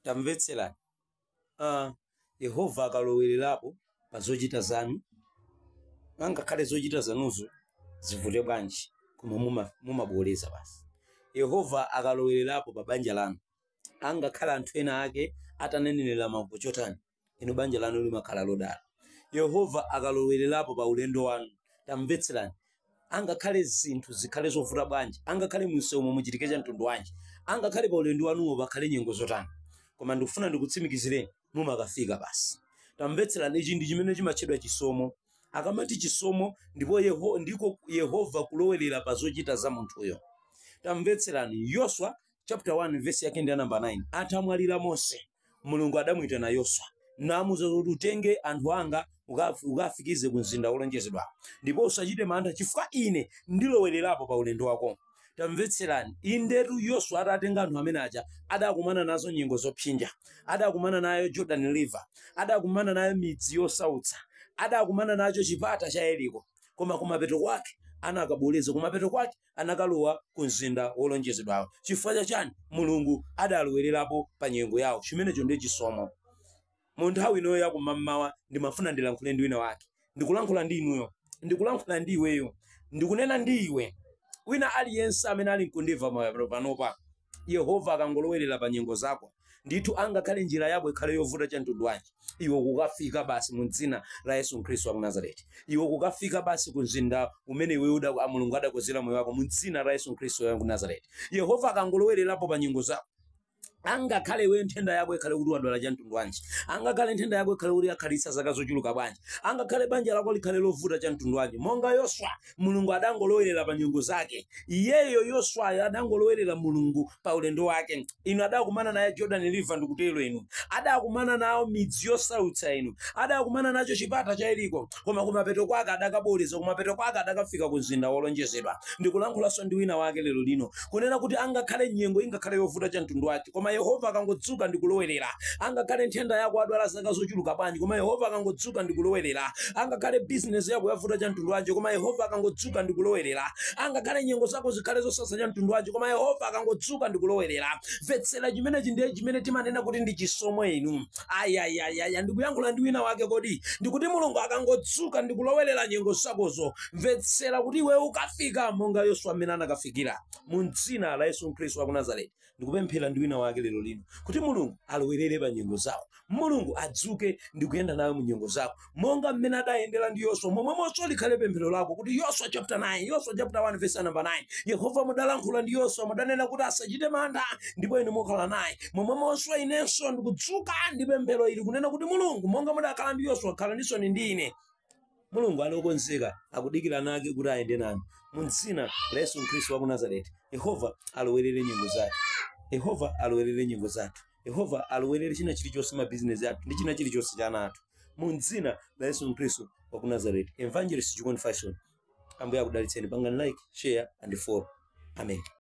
tamvetserani uh, yehova akalowererapo pa zochita zanu angakhale zochita zanuzo zivute bwanji koma muma- mumaboleza basi yehova akalowererapo pa banja lanu angakhale anthu ena ake atanenerera mavuto chotani inu banja lanu limakhala lodala yehova akalowererapo pa ulendo wanu tamvetserani angakhale zinthu zikhale zovuta bwanji angakhale munsewu muchitike cha mtundu wanji angakhale pa ulendo wanuwo pakhale nyengo zotani koma ndikufuna ndikutsimikizireni mumakafika basi tamvetserani ichi ndi chimene chimatchedwa chisomo akamati chisomo ndipo Yeho, ndiko yehova kulowerera pa zochita za munthuyo tamvetserani yoswa chapter 1 verse yake ndi ya namba 9 atamwalira mose mulungu adamuyitana yoswa namuza kuti utenge anthu anga ukaf- ukafikize ku mzinda wolonjezedwa ndipo usachite mantha chifukwa ine ndilowererapo pa ulendo wako tamvetserani indetu yoswa atatenga anthu amene aja adakumana nazo nyengo zopsinja adakumana nayo jordan river adakumana nayo midzi yosautsa adakumana nacho chipata cha yeriko koma kumapeto kwake anakaboleza kumapeto kwake anakalowa ku mzinda wolonjezedwawo. Chifukwa cha chani? Mulungu adalowererapo pa nyengo yawo. Chimenecho ndiye chisomo. Mu nthawi ino ya kumammawa ndimafuna ndilankhule ndi wina wake. Ndikulankhula ndi inuyo. Ndikulankhula ndi iweyo. Ndikunena ndi iwe. Wina aliyense amene ali nkundimva panopa. Yehova akangolowerera pa nyengo zako, ndithu angakhale njira yako ikhale yovuta cha mtundu wanji, iwe kukafika basi mu dzina la Yesu Khristu wa ku Nazareti. Iwe kukafika basi ku mzinda umene iwe uda a Mulungu adakozera moyo wako mu dzina la Yesu Khristu wa ku Nazareti. Yehova akangolowererapo pa nyengo zako, angakhale iweyo nthenda yako ikhale kuti wadwala cha mtundu wanji angakhale nthenda yako ikhale kuti yakhalitsa zaka zochuluka bwanji angakhale banja lako likhale lovuta cha mtundu wanji monga yoswa Mulungu adangolowerera pa nyengo zake. Iyeyo Yoswayo adangolowerera Mulungu pa ulendo wake. Inu adakumana naye Jordan River ndikutero inu. Adakumana nawo midzi yosautsa inu. Adakumana nacho chipata cha Yeriko. Koma kumapeto kwake adakaboleza, kumapeto kwake adakafika ku mzinda wolonjezedwa. Ndikulankhulanso ndi wina wake lero lino. kunena kuti angakhale nyengo ingakhale yovuta cha mtundu wanji koma yehova akangodzuka ndi kulowerera angakhale nthenda yako adwala zaka zochuluka bwanji koma yehova akangodzuka ndi kulowerera angakhale bizinesi yako yavuta cha mtundu wanji koma yehova akangodzuka ndi kulowerera angakhale nyengo zako zikhale zosasa cha mtundu wanji koma yehova akangodzuka ndi kulowerera mvetsera chimenechi ndiye chimene timanena kuti ndi chisomo inu ayayayaya ndikuyankhula ndi wina wake kodi ndikuti mulungu akangodzuka ndi kulowerera nyengo zakozo mvetsera kuti iwe ukafika monga yoswa mmene anakafikira mu mdzina la yesu khristu wa ku nazareti ndikupemphera ndi wina wake lero lino kuti mulungu alowerere pa nyengo zako mulungu adzuke ndikuyenda nawe mu nyengo zako monga mmene adayendera ndi yoswa momwemonso likhale pemphero lako kuti yoswa chapter 9 yoswa chapter 1 verse number 9 yehova mudalankhula ndi yoswa mudanena kuti asachite mantha ndipo inu mukhala naye momwemonso inenso ndikudzuka ndi pemphero ili kunena kuti mulungu monga mudakhala ndi yoswa khalaninso ndi ine mulungu ali okonzeka akudikira ana ake kuti ayende nanu mu dzina la yesu khristu wa ku nazareti yehova alowerere nyengo zathu yehova alowerere nyengo zathu yehova alowerere china chilichonse mabizinesi athu ndi china chilichonse cha ana athu mu dzina la yesu khristu wa ku nazareti evangelist chikondi fashion ambuye akudalitseni pangani like share and follow amen